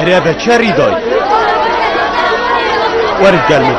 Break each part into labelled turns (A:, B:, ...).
A: Erê be çi rî dayî? Werit gel min.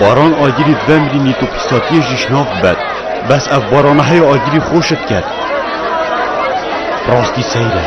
A: Baran agirî vemrî nîtopisatiyê jî şnav bed. Bes ev barana heye agirî xweş diket. Rastî seyr e.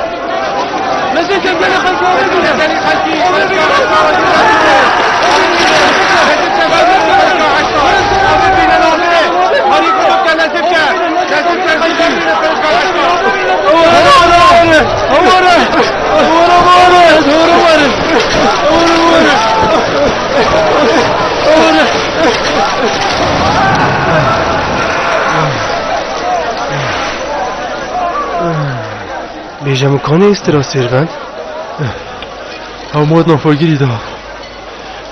A: Bêje min kanê îstira sêr ben? Ew mod na forgirî da.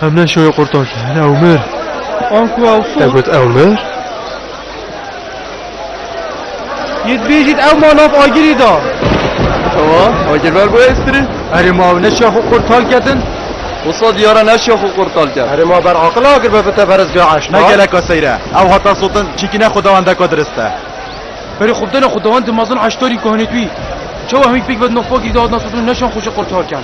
A: Em ne şoyê qurtan kirin. Ew mir. An ku ew so. Te got ew mir? Yê dibêjît ew ma nav agirî da. Ewa, agirber bûye strî? Erê ma ew ne şoya xwe qurtal kedin? Wisa diyara ne şoya xwe qurtal ke. Erê ma ber aqila agirber bi te berz ge eşt. Ne geleka seyre. Ew hata sotin çîkîne xwe dewan deka dirist e. Berê xwe bidene xwe dewan dimezin eştarî ku henê tu yî. Çawa hemî pêk vedin navpakî de hatina sotin û ne şoyan xwe jî qurtal ken.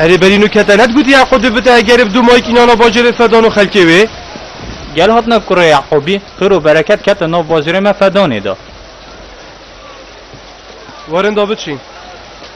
A: Erê berî nû kete net gotî Yaqûbî bite egerê bi dû mayîk înan a bajêrê Fedanû xelkê wê. Gel hatine kurê Yaqûbî, xêr û bereket kete nav bajêrê me Fedanê de. Werin da biçîn.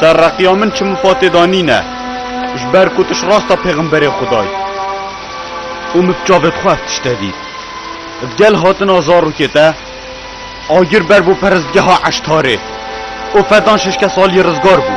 A: Ser reqiya min çi mifatê da nîne, ji ber ku tu ji rasta pêxemberê Xwedayî. Û min bi çavê xwe ev tişte dît. Di gel hatina zarokê de agir ber bo perestgeha Eştarê û fedan şeş kes aliyê rizgar bû.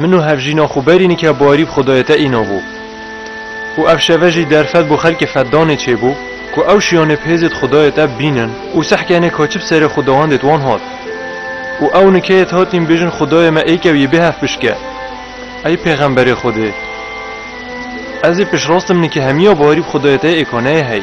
A: Min û hevjîna xwe berî nike barî bi Xwedayê te îna bû û ev şeve jî derfet bo xelkê Feddanê çêbû ku ew şiyanê bi hêzê di Xwedayê te bînin û sehkenê ka çi bi serê xwedawendê di wan hat. Û ew nikeyê di hatîn bêjin Xwedayê me êkew yê bêhef bişke. Ey pêxemberê Xwedê! Ez ê piştrast im nike hemiya barî bi Xwedayê te yê êkaneyê hey.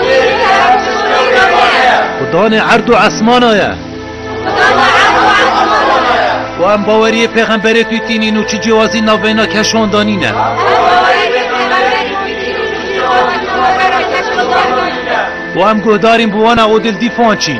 A: Xudanê erd û esmana ye. Û em baweriyê pêxemberê tûî tînîn û çi cêwazî navbeyna keşan da nîne. Û em guhdarîn bi wana û dildîfan çîn.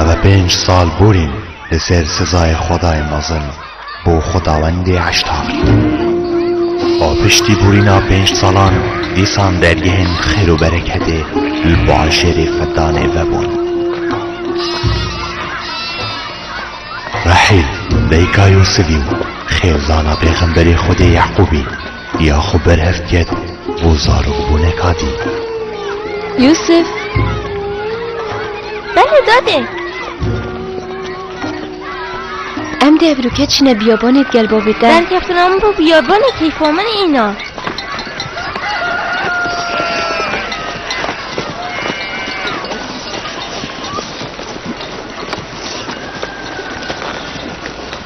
A: Ev e pênc sal borîn li ser sizayê xwedayê mezin bo xwedawendê Eştar. Û piştî borîna pênc salan dîsan dergehên xêr û bereketê li bajarê Fedanê vebûn. Rehîl dayika Yûsivî û xêzana pêxemberê Xwedê Yeqûbî, Ya xwe berhev ket bo zarokbûneka dî. Yûsif, Belê dadê. Em dê ev rûke çîne biyabanê di gel bavê te. Derkeftina min bo biyabanê keyfa min îna.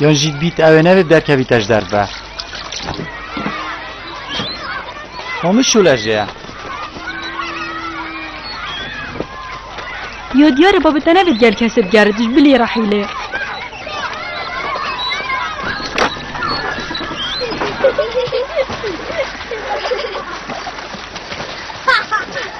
A: Yon jî bît ewê nevê derkevî te ji derve. Hemû şûle jê ye. Yo diyar e bavê te nevê gel kesê bi gerê tij bilê ra hîlê.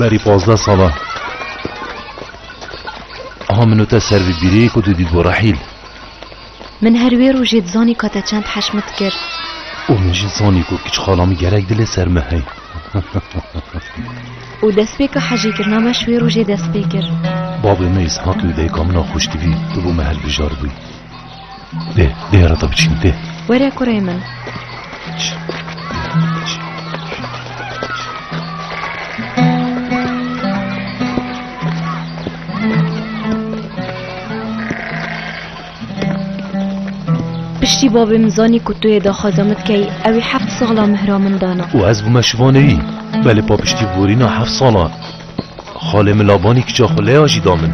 A: Berî pazdeh salan aha min û te ser vî bîrî ku tu dît bo rehîl. Min her wê rojê dizanî ka te çend heşmet kir. û min jî zanî ku kicxala min gerek dilê ser me hey. û destpêka hejîkirina me ji wê rojê dest pê kir. Babê me Îshaqî û dayika min a xweştivî tu bo me hilbijar bûyî. Dê, dê ara da biçîm, dê. Were kurê min. Biç, biç. Piştî babê min zanî ku tu yê daxwaza min dikey, ew ê heft sala mihra min dana. û ez bûme şivaneyî. Belê papiştî borîna heft salan. Xalê min labanî kiça xwe lêya jî da min.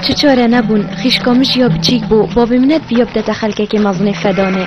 A: Çi çare nebûn, xîşka min jî ya biçîk bû, bavê min ne diviya bide te xelkekê mezinê fedanê.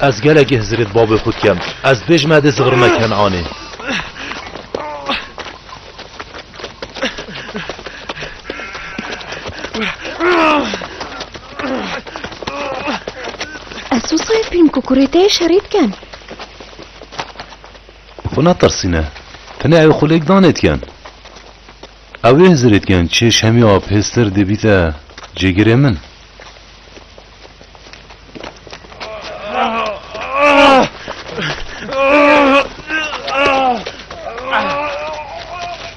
A: Ez gelekî hizirê di bavê xwe dikim. Ez dibê ji me dê zivirime Kenanê. Ez sosa fîlm kukurê te yê şerî dikim. Xwe netirsîne. Tenê ew xwe lêk danêtiyen. Ew ê hizirêtiyen çê şemiya pêster dê bîte cêgirê min.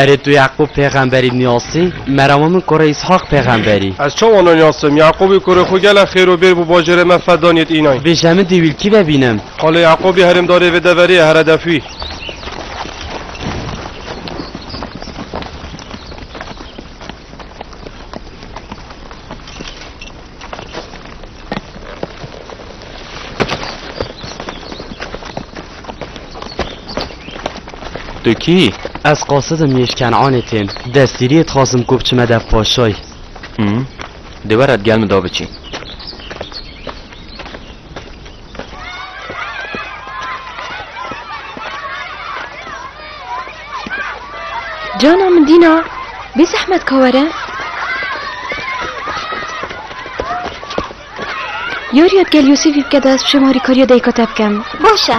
A: Erê tu Yaqûb pêxemberî niyasî, merama min kore Îshaq pêxemberî. Ez çawa naniyasim? Yaqûbî kurê xwe gele xêr û bêr bû bajêrê me fe danîyê înay. Bêje min dî wîlkî vebînim. Xalê Yaqûbî herêmdarê vê deverê ye here def wî. Tu kî? Ez qasidim yê ji Kenanê tên. Destgîriyê dixwazim ku biçime dev paşayî. Dê were digel min de biçî. Cana min dîna bê zehmet ka were Yarîya gel Yûsîfî bike de ez bi şêma rîkariya dayika te bikim. Baş e.